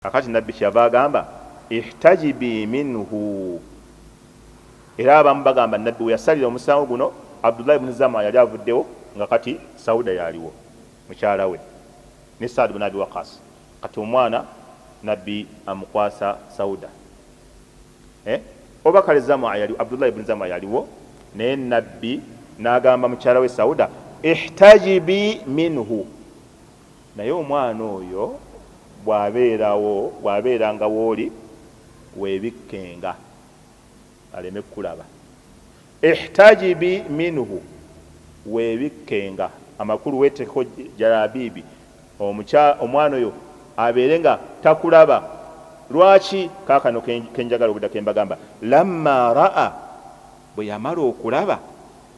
Kakati Nabbi kyeyava agamba, Ihtajibii minhu, era abamu bagamba Nabbi weyasalira omusango guno Abdullah ibn Zam'a yali avuddewo nga kati Sauda yaaliwo mukyala we ne Sa'd ibn Abi Waqqas, kati omwana Nabbi amukwasa Sauda eh oba kale Zam'a yali, Abdullah ibn Zam'a yaliwo naye Nabbi naagamba mukyala we Sauda, Ihtajibii minhu, Naye omwana oyo bw'abeerawo, bw'abeeranga w'oli, weebikkenga, aleme kukulaba. Ihtajibi minhu, weebikkenga, amakulu weeteekeko jalaabiibi, omukya, omwana oyo abeere nga takulaba. Lwaki? Kaakano ke, ke njagala okudda, ke mbagamba. Lammaa ra'a, bwe yamala okulaba,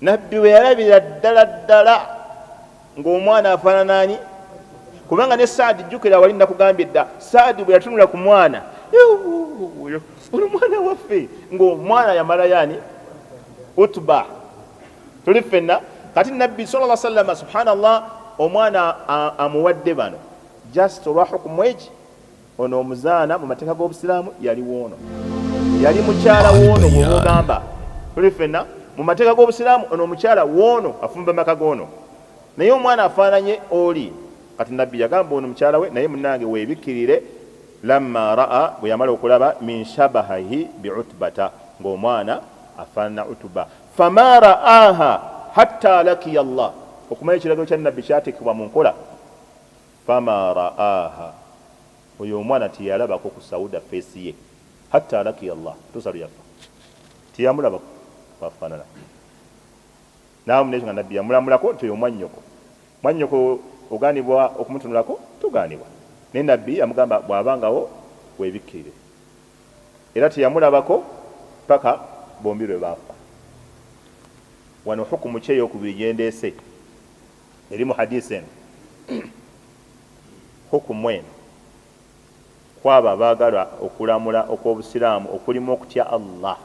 nabbi bwe yalabira ddala ddala ng'omwana afaanana ani kubanga ne saadi jjukira wali nakugambye dda saadi bwe yatunula ku mwana ono mwana waffe ng'omwana yamalayo ani utuba tuli ffenna kati nabbi sala lla sallama subhanallah omwana amuwadde bano just olwa hukumu eki Ono omuzaana mu mateeka g'obusiraamu yali woono, yali mukyala woono. Bwoba ogamba tuli fenna mu mateeka g'obusiraamu, ono omukyala woono afumba maka goono, naye omwana afaananye oli. Kati Nabbi yagamba ono mukyala we, naye munnange weebikkirire. Lamma raa, bwe yamala okulaba, min shabahahi bi Utbata, ng'omwana afaanana Utuba. Fama raaha hatta lakiya Allah, okumanya ekiragiro kya Nabbi kyateekebwa mu nkola. Fama ra'aha oyo omwana teyalabako ku sauda face ye hatta lakiya Allah kutuusa lweyaffa teyamulabako bwafanana namu nekyo nga nabbi yamulamulako nti oyo mwanyoko mwanyoko oganibwa okumutunulako toganibwa naye nabbi yamugamba bwabangawo webikkirire era teyamulabako paka bombi lwebaffa wano hukumu ki eyokubiri gyendeese. eri mu hadiisi eno hukumu eno kwabo abaagala okulamula okw'obusiraamu okulimu okutya allah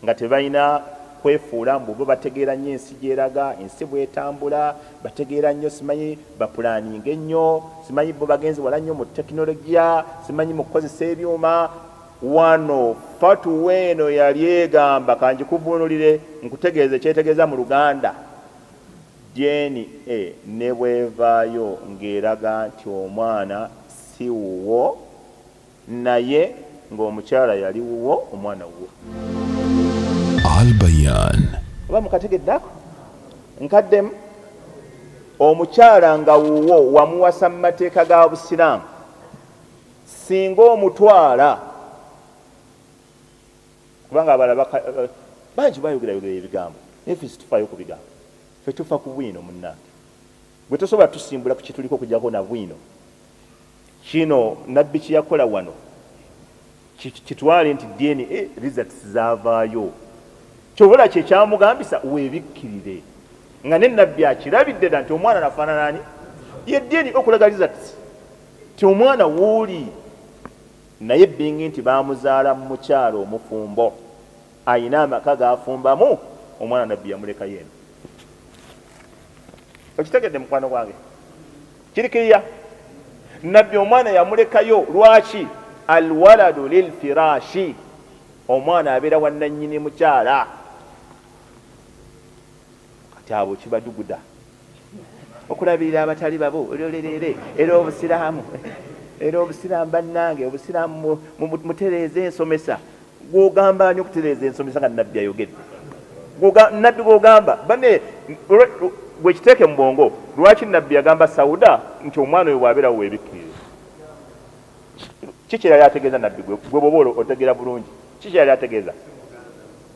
nga tebalina kwefuula mbu bo bategeera nnyo ensi gyeraga ensi bwetambula bategeera nnyo simanyi bapulaninga ennyo simanyi bo bagenzi wala nnyo mu tekinologiya simanyi mu kukozesa ebyuma wano fatuwa eno yali egamba kanjikuvuunulire nkutegeeza ekyetegeeza mu luganda DNA ne bw'evaayo ng'eraga nti omwana si wuwo naye ng'omukyala yali wuwo, omwana wuwo. Al Bayan. Oba mukategedde ako? Nkaddemu. Omukyala nga wuwo wamuwasa mu mateeka ga Busiraamu singa omutwala. Kubanga abalala baka, bangi bayogera yogera ebigambo naye ffe situfaayo ku bigambo, ffe tufa ku bwino. Munnange gwe tosobola tusimbula ku kituliko okujjako na bwino. Kino Nabbi kye yakola wano kitwale nti DNA results zaavaayo. Kyova olaba kye kyamugambisa weebikkirire nga ne Nabbi akirabidde dda nti omwana nafaanana ani? Ye DNA okulaga results ti omwana wuuli. Naye being nti baamuzaala mu mukyala omufumbo alina amaka g'afumbamu, omwana Nabbi yamulekayo eno. Okitegedde mukwano gwange? Kiri kiriya? Nabbi omwana yamulekayo. Lwaki? Alwaladu lilfiraashi, omwana abeera wa nnannyini mukyala. kati abo kibaduguda okulabirira abatali babo olyolereere era obusiraamu era obusiraamu bannange obusiraamu mutereeza ensomesa gwogamba ani okutereeza ensomesa nga nabbi ayogedde nabbi gwogamba bane gwekiteeke mu bwongo lwaki nabbi yagamba sauda nti omwana oyo bwabeerawo webikkirire kikyerali ategeeza nabbi gwe bwoba otegeera bulungi kikyerali ategeeza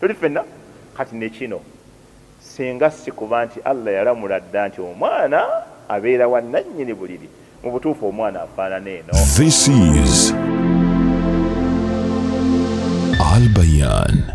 Tuli fenna kati nekino singa sikuba nti Allah yalamula dda nti omwana abeera wa nannyini buliri mu butuufu omwana afaanana eno. This is Al Bayan.